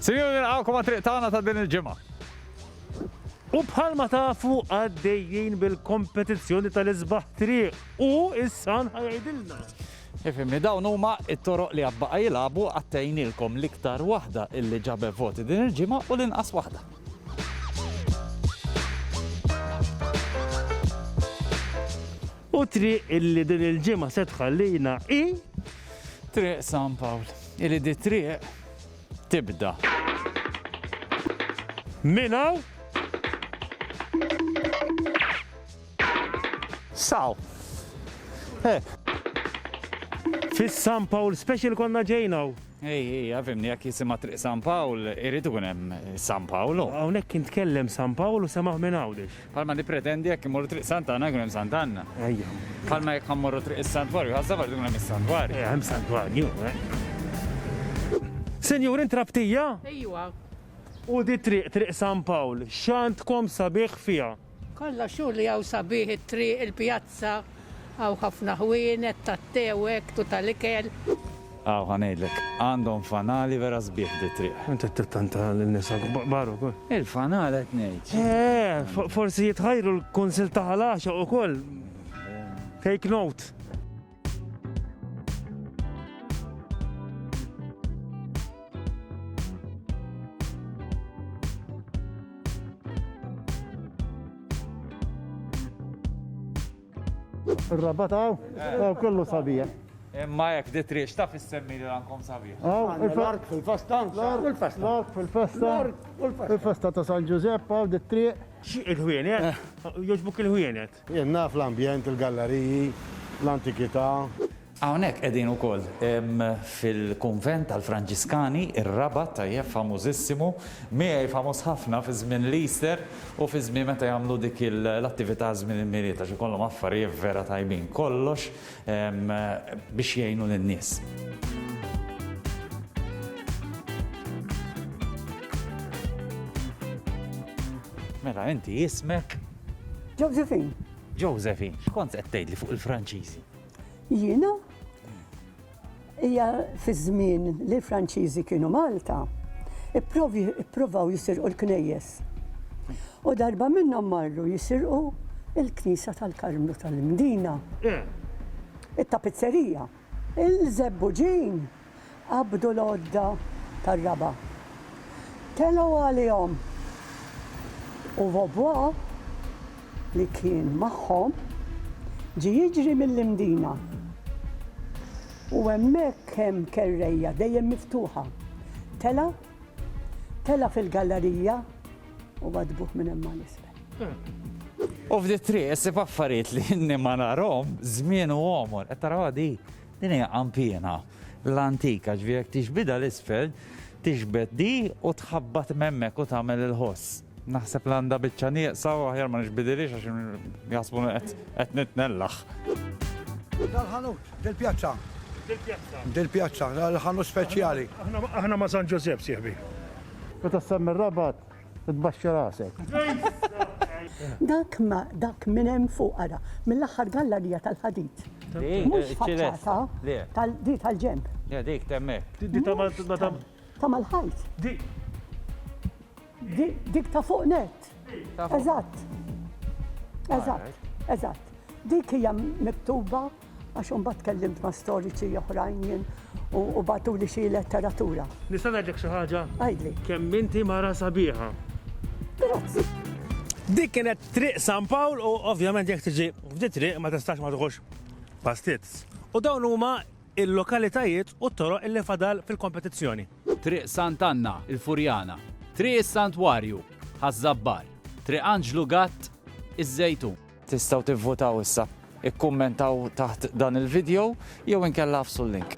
Sinjuri nilqgħukom għat-triq tagħna ta' din il-ġimgħa. U bħalma tafu għaddejjin bil-kompetizzjoni tal-isbaħ triq u is-san ħajajdilna. Ifimni, dawn huma it-toroq li għabbaqa jilabu għattejnilkom l-iktar waħda illi ġabe voti din il-ġimgħa u l-inqas waħda. U triq illi din il-ġimgħa se tħallina i triq San Pawl. Illi di triq tibda. Minn hawn. Saw. Hekk. Fis-San Pawl Special konna ġejn hawn. Ej, ej, għafimni, jekk jisimha triq San Pawl, irid ikun hemm San Pawl. Hawnhekk kien tkellem San Pawl u semaħ minn Għawdex. Bħalma nippretendi jekk immorru triq Sant'Anna jkun hemm Sant'Anna. Ejja. Bħalma jekk ħammorru triq is-Santwarju, ħażabar jkun hemm is-Santwarju. Ejja, hemm Santwarju. Eh. Senjur, intrabtija? Ejwa. U di triq triq San Pawl, x'għandkom sabiħ fiha? Kollha xogħol li hawn sabiħ it-triq, il-pjazza. Hawn ħafna ħwienet tat-te u hekk u tal-ikel. Hawn ħa ngħidlek, għandhom fanali vera sbieħ di t-triq. Int qed tittanta lin-nies kbar ukoll. Il-fanal qed ngħid. Eh, forsi jitħajru l-Kunsill ta' Ħal Għaxaq ukoll. Take note. Ir-rabat hawn, hawn kollu sabiħ. Imma hekk di triq x'taf issemmi li rankom sabiħ. Hawn il-ark fil-festa, l-ark fil-festa. L-ark fil-festa, il-festa ta' San Ġużepp hawn di triq. Xi il-ħwienet? Eh. Jogħġbuk il-ħwienet? Jien naf l-ambjent, il-galleriji, l-antikità. Hawnhekk qegħdin ukoll fil-kunvent tal-Franġiskani, ir-Rabat, tajjeb, famużissimu, miegħi famuż ħafna fi żmien l-Easter u fi żmien meta jagħmlu dik l-attività żmien il-Milied għax ikollhom affarijiet vera tajbin, kollox biex jgħinu lin-nies. Mela inti ismek? Josephine. Josephine, x'kont qed tgħidli fuq il-Franċiżi? Jiena hija fiż-żmien li l-Franċiżi kienu Malta, ippruvaw jisirqu l-knejjes. U darba minnhom marru jisirqu l-Knisja tal-Karmnu tal-Imdina. It-tapizzerija. Il-żebbuġin qabdu l-għodda tar-raba'. Telgħu għalihom u Vaubois, li kien magħhom, ġie jiġri mill-Imdina. U hemmhekk hemm kerrejja dejjem miftuħa. Tela', tela' fil-gallarija u għaddbuh minn hemm għal isfel. U f'di triq issib affarijiet li inni ma narhom żmien u għomor. Qed tarawha di? Din hija qanpiena l-antika, ġifieri jekk tixbidha l-isfel, tixbed di u tħabbat m'hemmhekk u tagħmel il-ħoss. Naħseb li għandha biċċa nieqsa u aħjar ma nixbidilhiex għax jaħsbu qed nitnellaħ. Dal-ħanut, dil-pjazza. Dil-pjazza. Dil-pjazza, l-ħanut speċjali. Aħna ma' San Ġużepp, sieħbi. Meta ssemmi r-Rabat, Tbaxxi rasek. Dak ma dak minn hemm fuq ara, mill-aħħar gallarija tal-ħadid. Mhux faċċata tal-di tal-ġenb. Ja dik temmek. Di ta' madam. Ta' mal-ħajt. Dik. Dik ta' fuq net. Eżatt. Eżatt. Eżatt. Dik hija miktuba Għax imbagħad tkellimt ma' storiċi oħrajn jien u batuli xi letteratura. Nista' ngħidlek xi ħaġa? Għidli. Kemm inti mara sabiħa. Grazzi. Dik kienet triq San Pawl u ovvjament jekk tiġi f'di triq ma tistax ma tħux pastizz. U dawn huma il-lokalitajiet u t-toroq illi fadal fil-kompetizzjoni. Triq Sant' Anna, il-Furjana. Triq is-Santwarju, Ħaż-Żabbar. Triq Anġlu Gatt, iż-Żejtun. Tistgħu tivvutaw issa. Ikkummentaw taħt dan il-vidjow jew inkella għafsu l-link.